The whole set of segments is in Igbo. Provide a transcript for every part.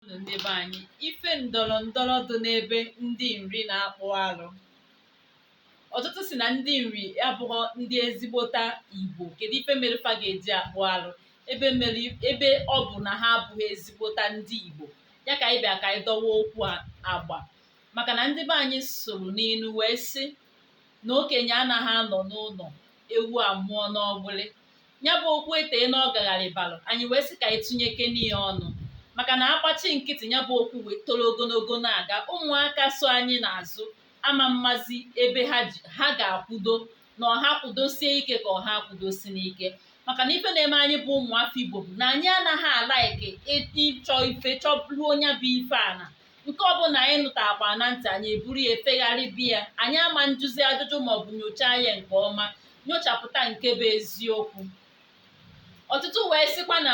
Unu ndị be anyị, ife ndọrọ ndọrọ dị n'ebe ndị Nri na-akpụ alụ. Ọtụtụ sị na ndị Nri abụghọ ndị ezigbota Igbo. Kedu ife mere fa ga-eji akpụ alụ ebe ọ bụ na ha abụghị ezigbota ndị Igbo. Ya ka anyị bịa ka anyị dọwa okwu agba. Maka na ndị be anyị sụrụ n'inu wee sị na okenye anaghị anọ n'ụlọ ewu amụọ n'ọgbụlị. ya bụ okwu etee na ọ gagharịbalụ anyị wee sị ka anyị tụnyekene ya ọnụ maka na a gbachi nkịtị ya bụ okwu wee toro ogologo na-aga ụmụaka so anyị n'azụ ama mmazi ebe ha ga-akwudo na ọ ha kwudosie ike ka ọ ha kwudo si n'ike maka na ife na-eme anyị bụ ụmụafọ igbo bụ na anyị anaghị a-like ịchọ ife chọruo nya bụ ife ana nke ọbụla anyị nụtakwa na ntị anyị eburu ya efegharịbe anyị ama njụzi ajụjụ maọbụ nyochaa ya nke ọma nyochapụta nke bụ eziokwu ọtụtụ wee sịkwa na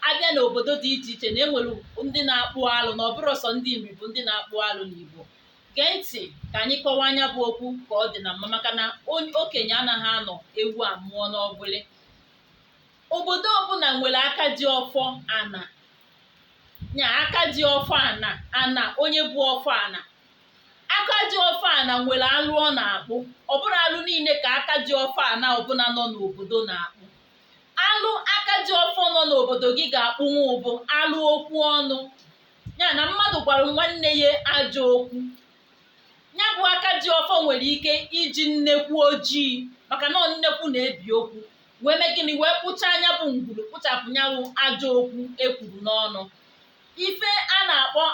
a bịa n'obodo dị iche iche na e nwere ndị na-akpụ alụ na ọ bụrọ sọ ndị Nri bụ ndị na-akpụ alụ n'Igbo gee ntị ka anyị kọwaa nya bụ okwu ka ọ dị na mma maka na okenye anaghị anọ ewu amụọ n'ọgbụlị obodo ọbụla nwere aka ji ọfọ ana nya aka ji ọfọ ana ana onye bụ ọfọ ana aka ji ọfọ ana nwere alụ ọ na-akpụ ọ bụrọ alụ niile ka aka ji ọfọ ana ọbụla nọ n'obodo na-akpụ alụ aka ji ọfọ nọ n'obodo gị ga-akpụnwu bụ alụ okwu ọnụ ya na mmadụ gwara nwanne ya ajọ okwu ya bụ aka ji ọfọ nwere ike iji nnekwu ojii maka na ọ nnekwu na-ebi okwu wee mee gịnị wee kpụchaa nya bụ ngwuru kpụchapụ nya bụ ajọ okwu e kwuru n'ọnụ ife a na-akpọ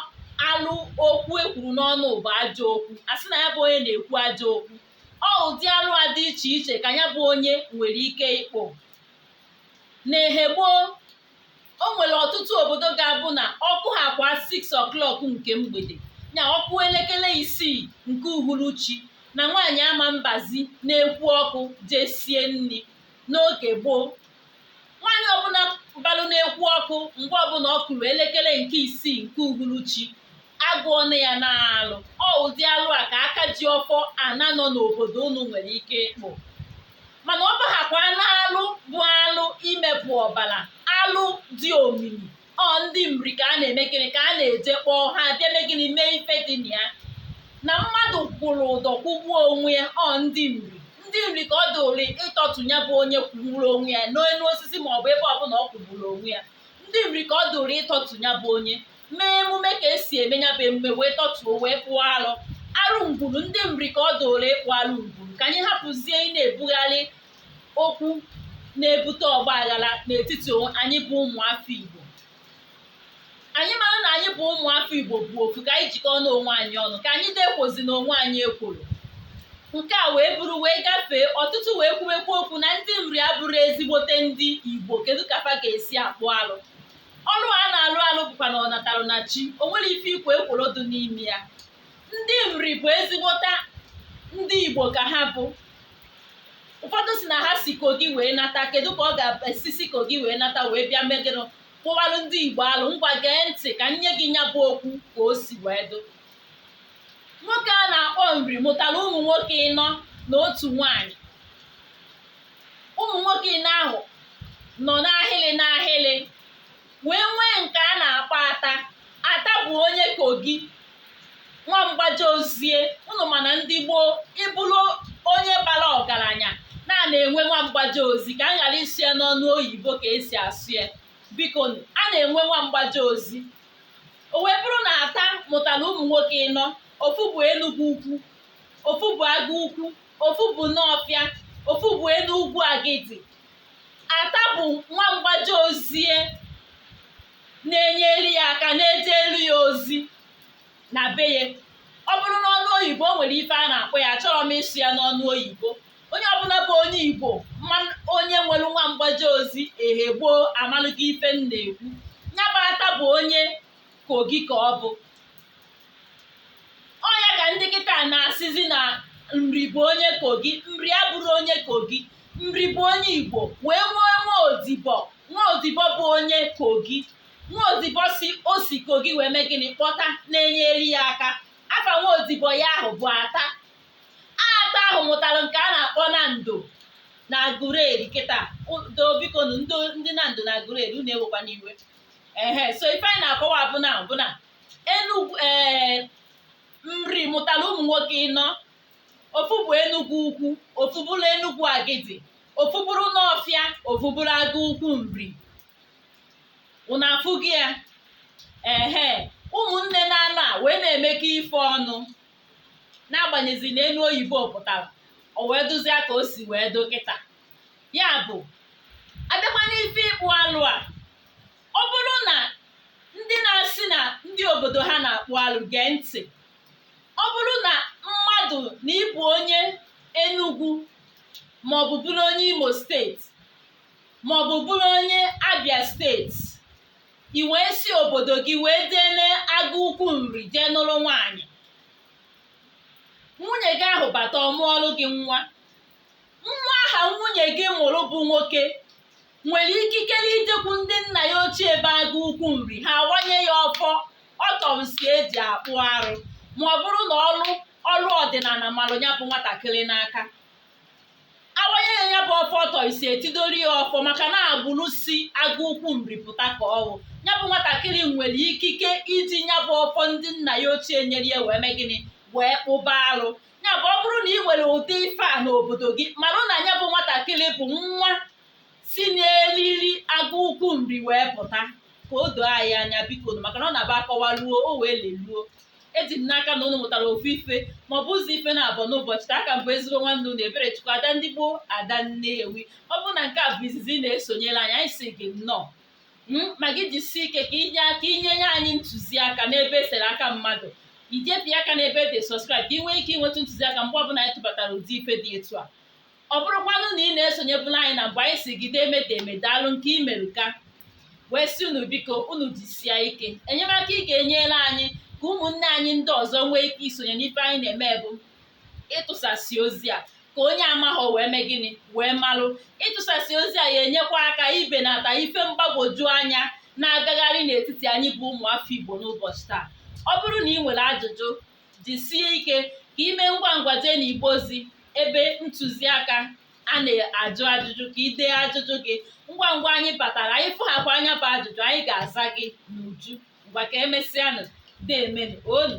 alụ okwu e kwuru n'ọnụ bụ ajọ okwu a sị na ya bụ onye na-ekwu ajọ okwu ọ ụdị alụ a dị iche iche ka ya bụ onye nwere ike ịkpụ n'ehe gboo o nwere ọtụtụ obodo ga-abụ na ọ kụhakwa 6 o'clock nke mgbede ya ọ kụọ elekere isii nke uhuruchi na nwaanyị ama mbazi n'ekwu ọkụ jee sie nri n'oge gboo nwaanyị ọbụla balụ n'ekwu ọkụ mgbe ọbụla ọ kụrụ elekere nke isii nke uhuruchi a gụọna ya n'alụ ọ ụdị alụ a ka aka ji ọfọ ana nọ n'obodo unu nwere ike ịkpụ mana ọ bahakwa n'alụ bụ alụ imepụ ọbara alụ dị omimi ọ ndị Nri ka a na-eme gịnị ka a na-eje kpọọ ha bịa mee gịnị mee ife dị na ya na mmadụ kwụrụ ụdọ kwụgbuo onwe ya ọ ndị Nri ndị Nri ka ọ dịịlị ịtọtụ ya bụ onye kwụgburu onwe ya n'elu osisi ma ọ bụ ebe ọbụla ọ kwụgburu onwe ya ndị Nri ka ọ dịịlị ịtọtụ ya bụ onye mee emume ka esi eme ya bụ emume wee tọtuo wee kpụọ alụ arụ ngwuru ndị nri ka ọ dụrụ ịkpụ arụ ngwuru ka anyị hapụzie ị na-ebugharị okwu na-ebute ọgba aghara n'etiti onwe- anyị bụ ụmụafọ igbo anyị mara na anyị bụ ụmụafọ igbo bụ ofu ka anyị jikọọ n'onwe anyị ọnụ ka anyị dekwozi n'onwe anyị ekworo nke a wee bụrụ wee gafee ọtụtụ wee kwuwekwa okwu na ndị nri abụrụ ezigbote ndị igbo kedu ka fa ga-esi akpụ alụ ọrụ a na-alụ alụ bụkwa na ọ natalụ na chi o nwere ife ikwo ekworo dị n'ime ya ndị nri bụ ezigbota ndị igbo ka ha bụ ụfọdụ si na ha si kogi wee nata kedu ka ọ ga-esi si kogi wee nata wee bịa megịnụ kpụwalụ ndị igbo alụ ngwa gee ntị ka m nye gị nya bụ okwu ka o si wee dụ nwoke a na-akpọ nri mụtara ụmụ nwoke ịnọ na otu nwaanyị ụmụ nwoke ịnọ ahụ nọ n'ahịlị n'ahịlị wee nwee nke a na-akpọ ata ata bụ onye kogi nwa mgbaje ozie ụnụ ma na ndị gboo ị bụrụ onye bara ọgaranya na na-enwe nwa mgbaje ozi ka m ghara ịsụ ya n'ọnụ oyibo ka esi asụ ya biko nụ, a na-enwe nwa mgbaje ozi o wee bụrụ na ata mụtara ụmụ nwoke ịnọ ofu bụ enugwu ukwu ofu bụ agụ ukwu ofu bụ nọọfịa ofu bụ enugwu agidi ata bụ nwa mgbaje ozie na-enyere ya aka na-ejelu ya ozi na be ya ọ bụrụ n'ọnụ oyibo o nwere ife a na-akpọ ya achọrọ m ịsụ ya n'ọnụ oyibo onye ọbụla bụ onye igbo ma onye nwere nwa mgbaje ozi ehe gboo amalụgo ife m na-ekwu nya bụ ata bụ onye kogi ka ọ bụ ọ ya ka ndị kịta na-asịzi na nri bụ onye kogi nri abụrụ onye kogi nri bụ onye igbo wee nwee nwa odibo nwa odibo bụ onye kogi nwa odibo si o si kogi wee mee gịnị kpọta na-enyere ya aka afa nwa odibo ya ahụ bụ ata ata ahụ mụtara nke a na-akpọ nando na agụleri kịta do biko nụ, ndị nando na agụleri unu ewekwana iwe ehe so ife anyị na-akọwa bụ na bụ na Enugwu ee nri mụtara ụmụ nwoke ịnọ ofu bụ Enugwu ukwu ofu bụrụ Enugwu agidi ofu bụrụ Nọọfịa ofu bụrụ agụ ukwu nri unu afụgo ya ehe ụmụnne naanọ a wee na-emekọ ife ọnụ n'agbanyeghị na enu oyibo pụtara o wee dụzia ka o si wee dụ kịta ya bụ a bịakwa n'ife ịkpụ alụ a ọ bụrụ na ndị na-asị na ndị obodo ha na-akpụ alụ gee ntị ọ bụrụ na mmadụ na ị bụ onye Enugu maọbụ bụrụ onye Imo steeti maọbụ bụrụ onye Abia steeti i wee si obodo gị wee jee n'agụ ukwu nri jee nụrụ nwaanyị nwunye gị ahụ bata ọ mụọlụ gị nwa nwa ahụ nwunye gị mụrụ bụ nwoke nwere ikikere ijekwu ndị nna ya ochie ebe agụ ukwu nri ha awanye ya ọfọ ọtọnsi eji akpụ arụ ma ọ bụrụ na ọ ọrụ ọdịnala malụ ya bụ nwatakịrị n'aka awanye ya ya bụ ọfọ ọtọnsi etidoro ya ọfọ maka na agbụrụ si agụ ukwu nri pụta ka ọ wụ ya bụ nwatakịrị nwere ikike iji ya bụ ọfọ ndị nna ya ochie nyere ya wee mee gịnị wee kpụba arụ ya bụ ọ bụrụ na ị nwere ụdị ife a n'obodo gị marụ na ya bụ nwatakịrị bụ nwa si n'eliri agụ ukwu nri wee pụta ka o doo anyị anya biko nụ, maka na ọ na-abụ akọwa ruo o wee leluo eji m n'aka na unu mụtara ofu ife ma ọ bụ ụzọ ife naabọ n'ụbọchị taa aka m bụ ezigbo nwanne unu ebere chukwu ada ndị gboo ada nnewi ọ bụrụ na nke a bụ izizi ị na-esonyere anyị anyị si gị nnọọ ma gị jisie ike ka i nye nye anyị ntụziaka n'ebe esere aka mmadụ i jee pịa aka n'ebe dị subscribe ka ị nwee ike inweta ntụziaka mgbe ọbụla anyị tụbatara ụdị ife dị etu a ọ bụrụkwanụ na ị na-esonyebulu anyị na mbụ anyị si gị deeme deeme daalụ nke i mere ka wee si unu biko unu jisie ike enyemaka ị ga-enyere anyị ka ụmụnne anyị ndị ọzọ nwee ike isonye n'ife anyị na-eme bụ ịtụsasị ozi a ka onye amaghọ wee mee gịnị wee malụ ịtụsasị ozi a ya enyekwa aka ibenata ife mgbagwoju anya na-agagharị n'etiti anyị bụ ụmụafọ Igbo n'ụbọchị taa ọ bụrụ na ị nwere ajụjụ jisie ike ka i mee ngwa ngwa jee n'igbe ozi ebe ntụziaka a na-ajụ ajụjụ ka ị dee ajụjụ gị ngwa ngwa anyị batara anyị fụghakwa nya bụ ajụjụ anyị ga-aza gị n'uju ngwa ka emesịanụ deemenụ onu